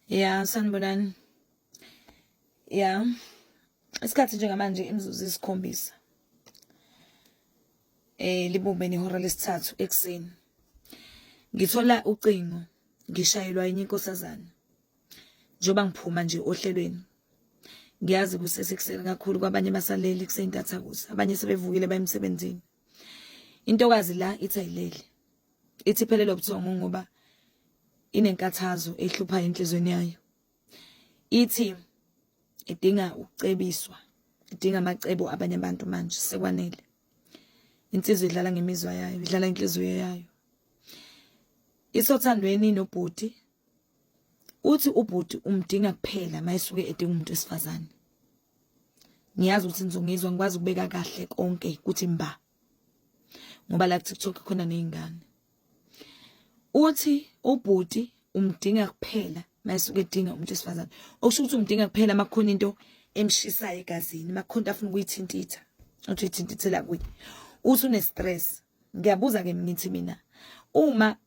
ya sanibonani ya isikhathi njengamanje imizuzu isikhombisa eh libumbe nehora lesithathu ekuseni ngithola ucingo ngishayelwa enye inkosazana njengoba ngiphuma nje ohlelweni ngiyazi kusesekuseni kakhulu kwabanye basalele kuseyintathakusa abanye sebevukile bayemsebenzini intokazi la ithi ayileli ithi phelele ubuthongo ngoba inenkathazo ehlupha enhlizweni yayo ithi idinga ukucebiswa idinga amacebo abanye abantu manje sekwanele insizwa idlala ngemizwa yayo idlala inhliziyo yayo isothandweni nobhuti uthi ubhuti umdinga kuphela mayisuke edinga umuntu wesifazane ngiyazi ukuthi ngizongizwa ngikwazi ukubeka kahle konke kuthi mba ngoba la TikTok khona nezingane uthi ubhuti umdinga kuphela mayisuke edinga umuntu wesifazane okusho ukuthi umdinga kuphela makhona into emshisayo egazini makhona afuna ukuyithintitha uthi uyithintithela kuye uthi une stress ngiyabuza ke ngithi mina uma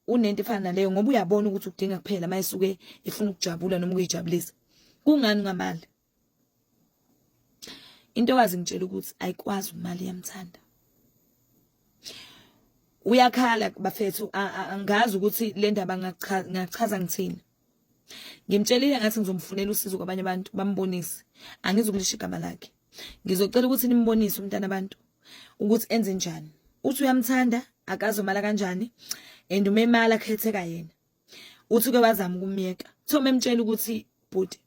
unento efana naleyo ngoba uyabona ukuthi ukudinga kuphela uma esuke efuna ukujabula noma ukuyijabulisa kungani ungamali intokazi ngitshela ukuthi ayikwazi umali iyamthanda uyakhala bafethu angazi ukuthi le ndaba ngachaza ngithini ngimtshelile ngathi ngizomfunela usizo kwabanye abantu bambonise angizukulisho igama lakhe ngizocela ukuthi nimbonise umntana abantu ukuthi enze njani uthi uyamthanda akazomala kanjani and umemala khetheka yena uthi ke wazama ukumyeka so memtshela ukuthi bhuti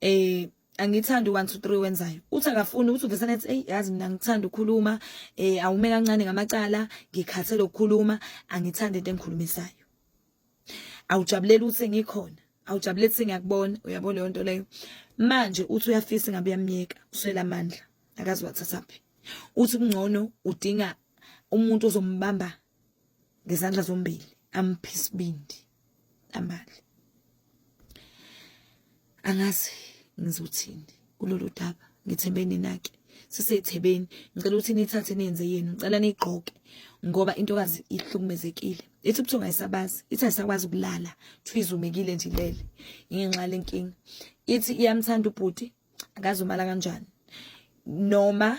eh angithandi 1 2 3 wenzayo uthi akafuni uthi uvesana ethi hey yazi mina ngithanda ukukhuluma eh awume kancane ngamacala ngikhathele ukukhuluma angithandi into engikhulimesayo awujabuleli ukuthi ngikhona awujabuleli ukuthi ngiyakubona uyabo leyo nto leyo manje uthi uyafisa ngabe uyamyeka uswela amandla akazi wathathaphi uthi kungcono udinga umuntu ozombamba ngezandla zombili amphisibindi amali angazi ngizothini kulolu daba ngithembe ninake sisethebeni ngicela ukuthi nithathe nenze yenu ngicela nigqoke ngoba intokazi ihlukumezekile ithi ubuthongo ayisabazi ithi ayisakwazi ukulala kuthiwa izumekile nje ilele ingenxa lenkinga ithi iyamthanda ubhuti akazumala kanjani noma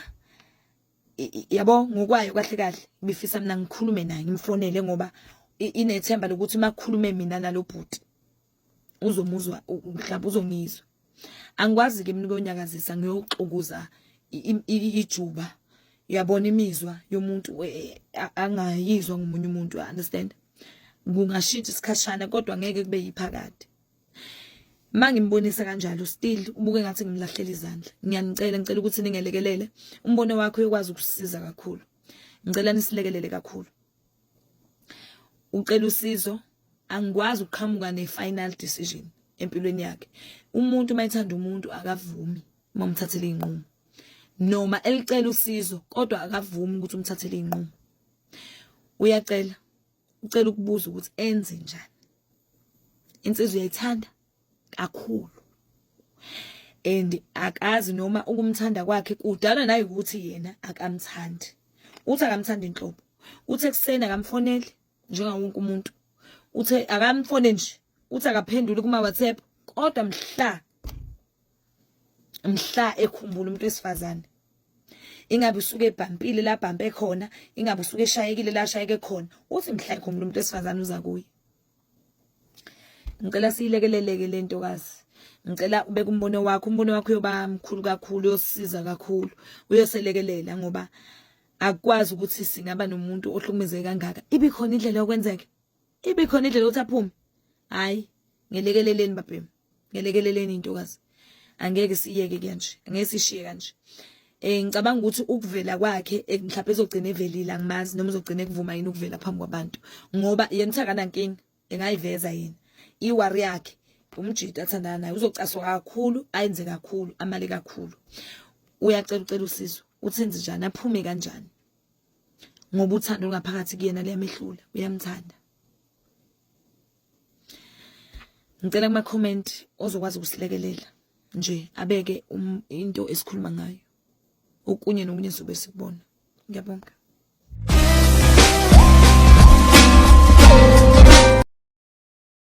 yabo ngokwayo kahle kahle bifisa mina ngikhulume naye ngimfonele ngoba inethemba lokuthi makhulume mina nalobhuti uzomuzwa mhlawumbe uzongizwa angikwazi ke mina ukonyakazisa ngiyoxukuza ijuba uyabona imizwa yomuntu e, angayizwa ngomunye umuntu understand kungashintsha isikhashana kodwa ngeke kube yiphakade mangimbonisa kanjalo still ubuke ngathi ngimlahlela izandla ngiyanicela ngicela ukuthi ningelekelele umbono wakho uyokwazi ukusiza kakhulu ngicela nisilekelele kakhulu ucela usizo angikwazi ukuqhamuka ne-final decision empilweni yakhe umuntu uma ethanda umuntu akavumi uma umthathele iy'nqumo noma elicela usizo kodwa akavumi ukuthi umthathele iy'nqumo uyacela ucela ukubuza ukuthi enze njani insizwa uyayithanda kakhulu and akazi noma ukumthanda kwakhe kudala naye ukuthi yena akamthandi uthi akamthandi inhlobo uthi ekuseni akamfoneli njenga wonke umuntu uthi akamfone nje uthi akaphenduli kuma WhatsApp kodwa mhla mhla ekhumbula umuntu wesifazane ingabe usuke ebhampile labhampe khona ingabe usuke eshayekile lashayeke khona uthi mhla ekhumbula umuntu wesifazane uza kuye ngicela siyilekeleleke le ntokazi ngicela ubeke umbono wakho umbono wakho uyoba mkhulu kakhulu uyosiza kakhulu uyoselekelela ngoba akukwazi ukuthi singaba nomuntu ohlukumezeke kangaka ibe khona indlela yokwenzeka ibe khona indlela yokuthi aphume hayi ngelekeleleni babhemu ngelekeleleni intokazi angeke siyeke kanje angeke sishiye kanje eh ngicabanga ukuthi ukuvela kwakhe eh, mhlawumbe ezogcina evelile angimazi noma uzogcina ekuvuma yini ukuvela phambi kwabantu ngoba yena uthakana nkinga engayiveza yini iwari yakhe umjita athandana naye uzocaswa kakhulu ayenze kakhulu amale kakhulu uyacela ucela usizo uthenze njani aphume kanjani ngoba uthando ngaphakathi kuyena liyamehlula uyamthanda ngicela kuma comment ozokwazi ukusilekelela nje abeke um, into esikhuluma ngayo okunye nokunye sobe sikubona ngiyabonga